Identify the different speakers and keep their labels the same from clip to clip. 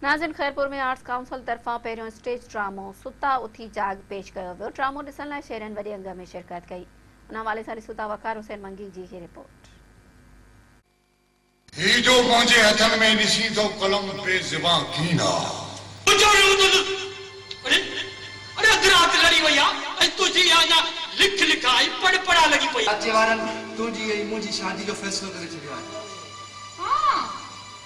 Speaker 1: ناظرين Khairpur ۾ arts council طرفان پهريون اسٽيج ڊرامو ستا اٿي جاڳ پيش ڪيو ويو ڊرامو ڏسڻ لاء شهرين وڏي انگ ۾ شرڪت ڪئي ان حوالي سان ڏسون ٿا وقار حسين منگي جي هي رپورٽ.
Speaker 2: هي جو منهنجي هٿن ۾ ڏسين ٿو قلم بي زبان ڪين آ. ويچاري اٿ اٿ اڙي
Speaker 3: اڙي اڌ رات لڙي وئي آ ۽ تنهنجي اها اڃا لک لک آ ۽ پڙ پڙ آ لڳي پئي آ. اچي وارن
Speaker 4: تنهنجي ۽ منهنجي شادي جو
Speaker 5: فيصلو ڪري ڇڏيو آهي. ها.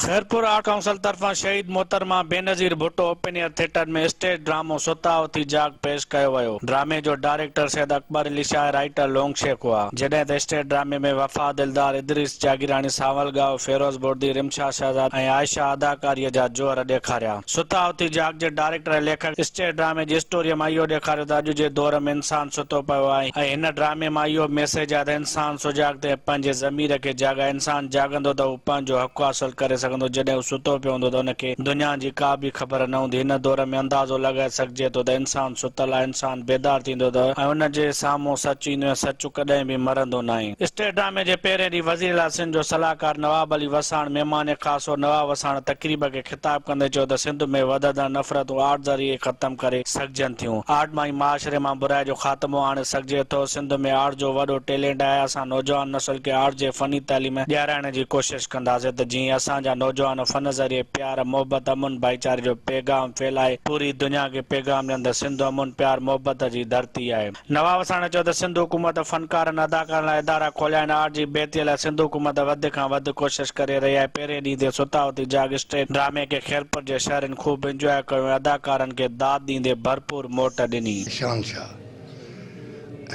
Speaker 6: خيرپور آرٽ ڪائونسل طرفان Shaheed Mohtarma Benazir Bhutto open air theatre ۾ stage ڊرامو ستا اٿي جاڳ پيش ڪيو ويو. ڊرامي جو ڊائريڪٽر سيد اڪبر علي شاهه ۽ رائيٽر لونگ شيخ هئا. جڏهن ته اسٽيج ڊرامي ۾ وفا دلدار، ادريس جاگيراڻي، سانول ڳاهو، فيروز بوردي، رمشا شهزاد ۽ عائشه اداڪاريء جا جوهر ڏيکاريا. ستا اٿي جاڳ جي ڊائريڪٽر ۽ ليکڪ اسٽيج ڊرامي جي اسٽوريء مان اهو ڏيکاريو ته اڄ جي دور ۾ انسان ستو پيو آهي ۽ هن ڊرامي مان اهو ميسيج آهي ته انسان سجاڳ ٿئي، پنهنجي ضمير کي جاڳائي، انسان جاڳندو ته هو پنهنجو حق حاصل ڪري سگهندو، جڏهن هو ستو پيو هوندو ته هن کي دنيا جي ڪا به خبر نه هوندي، هن دور ۾ اندازو لڳائي سگهجي ٿو ته انسان ستل آهي، انسان بيدار ٿيندو ته ۽ ان جي سامهون سچ ايندو ۽ سچ ڪڏهن به مرندو ناهي. اسٽيج ڊرامي جي پهرين ڏينهن وزيراعليٰ سنڌ جو صلاحڪار نواب علي وساڻ مهمان خاص هو، نواب وساڻ تقريب کي خطاب ڪندي چيو ته سنڌ ۾ وڌندڙ نفرتون آرٽ ذريعي ختم ڪري سگهجن ٿيون، آرٽ مان ئي معاشري مان برائي جو خاتمو آڻي سگهجي ٿو، سنڌ ۾ آرٽ جو وڏو ٽيلينٽ آهي، اسان نوجوان نسل کي آرٽ جي فني تعليم ڏيارائڻ جي ڪوشش ڪنداسين ته جيئن اسان جا نوجوان فن ذريعي پيار، محبت، امن ڀائيچاري جو پيغام ڦهلائي پوري دنيا کي پيغام ڏين ته سنڌ امن، پيار، محبت جي ڌرتي آهي. نواب وساڻي چيو ته سنڌ حڪومت فنڪارن اداڪارن لاء ادارا کوليا آهن آرٽ جي بهتري لاء سنڌ حڪومت وڌ کان وڌ ڪوشش ڪري رهي آهي پهرين ڏينهن تي ستا اتي جاڳ اسٽيج ڊرامي کي خيرپور جي شهرين خوب انجواء ڪيو ۽ اداڪارن کي داد ڏيندي ڀرپور موٽ ڏني. شهنشاهه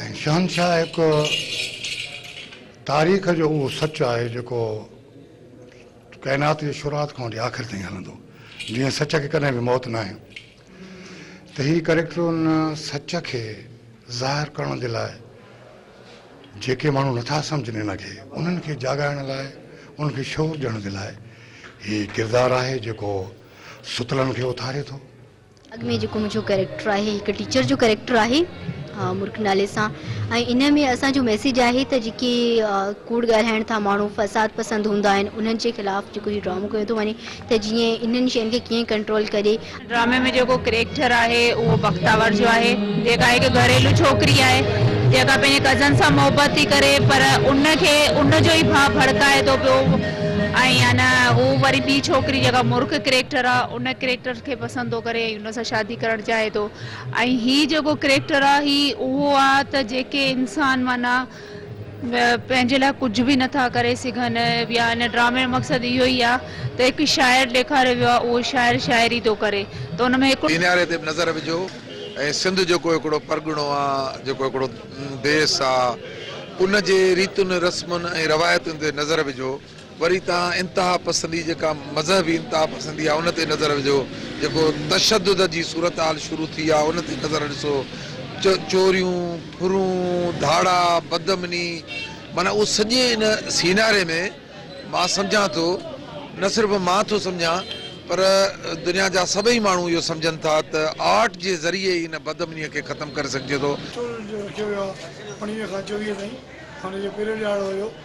Speaker 2: ۽ شهنشاهه هڪ تاريخ جو اهو سچ آهي جيڪو ڪائنات جي شروعات کان وٺي آخر تائين هلندو جيئن سچ کي ڪڏهن به موت ناهي. ته هي ڪريڪٽر ان سچ کي ظاهر ڪرڻ جي لاء جيڪي ماڻهو نٿا سمجهن ان کي انهن کي جاڳائڻ لاء انهن کي شعور ڏيڻ جي لاء هي ڪردار آهي جيڪو ستلن کي اٿاري ٿو. اڳ ۾ جيڪو
Speaker 7: منهنجو ڪريڪٽر آهي هڪ ٽيچر جو ڪريڪٽر آهي مرڪ نالي سان ۽ ان ۾ اسان جو ميسيج آهي ته جيڪي ڪوڙ ڳالهائڻ ٿا ماڻهو فساد پسند هوندا آهن انهن جي خلاف جيڪو هي ڊرامو ڪيو ٿو وڃي ته جيئن انهن شين کي ڪيئن ڪنٽرول ڪري. ڊرامي ۾ جيڪو
Speaker 8: ڪريڪٽر آهي اهو بختاور جو آهي جيڪا هڪ گهريلو ڇوڪري آهي جيڪا پنهنجي ڪزن سان محبت ٿي ڪري پر ان کي ان جو ئي ڀاء ڀڙڪائي ٿو پيو ۽ ان هو وري ٻي ڇوڪري جيڪا مرڪ ڪريڪٽر آ ان ڪريڪٽر کي پسند ٿو ڪري ۽ ان سان شادي ڪرڻ چاهي ٿو ۽ هي جيڪو ڪريڪٽر آ هي اهو آ ته جيڪي انسان معنيٰ پنهنجي لاء ڪجهه به نه ٿا ڪري سگهن يا هن ڊرامي جو مقصد اهو ئي آهي ته هڪ شاعر ڏيکاريو ويو آهي اهو شاعر شاعري ٿو ڪري ته ان ۾ هڪڙو. سيناري تي به نظر وجهو
Speaker 9: ۽ سنڌ جيڪو هڪڙو پرڳڻو آ جيڪو هڪڙو ديس آ ان جي ريتن رسمن ۽ روايتن تي نظر وجهو. وري توهان انتها پسندي جيڪا مذهبي انتها پسندي آهي ان تي نظر وجهو، جيڪو تشدد جي صورتحال شروع ٿي آهي ان تي نظر ڏسو، چوريون، ڦرون، ڌاڙا، بدامني معنيٰ اهو سڄي ان سيناري ۾ مان سمجهان ٿو نه صرف مان ٿو سمجهان پر دنيا جا سڀئي ماڻهو اهو سمجهن ٿا ته آرٽ جي ذريعي ئي ان بدامني کي ختم ڪري سگهجي ٿو. ٽول جو رکيو ويو آهي انهيء کان چويهه تائين
Speaker 10: ان جو پيريڊ ڏهاڙو هيو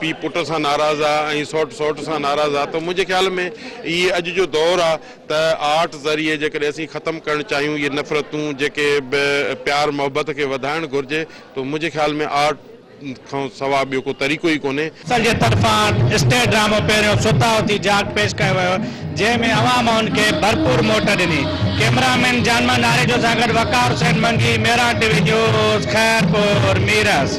Speaker 11: پيء پٽ سان ناراض آ ۽ سئوٽ سئوٽ سان ناراض آ ته منهنجي خيال ۾ هي اڄ جو دور آ ته آرٽ ذريعي جيڪڏهن اسين ختم ڪرڻ چاهيون اهي نفرتون جيڪي به پيار محبت کي وڌائڻ گهرجي ته منهنجي خيال ۾ آرٽ کان سوا ٻيو ڪو طريقو ئي ڪونهي. سر جي طرفان
Speaker 6: اسٽيج ڊرامو پهريون ستا اٿي جاڳ پيش ڪيو ويو. جنهن ۾ عوام هن کي ڀرپور موٽ ڏني. ڪئميرا مين جان محمد آريجو سان گڏ Waqar Hussain Mangi, Miran T V news, Khairpur, Mirs.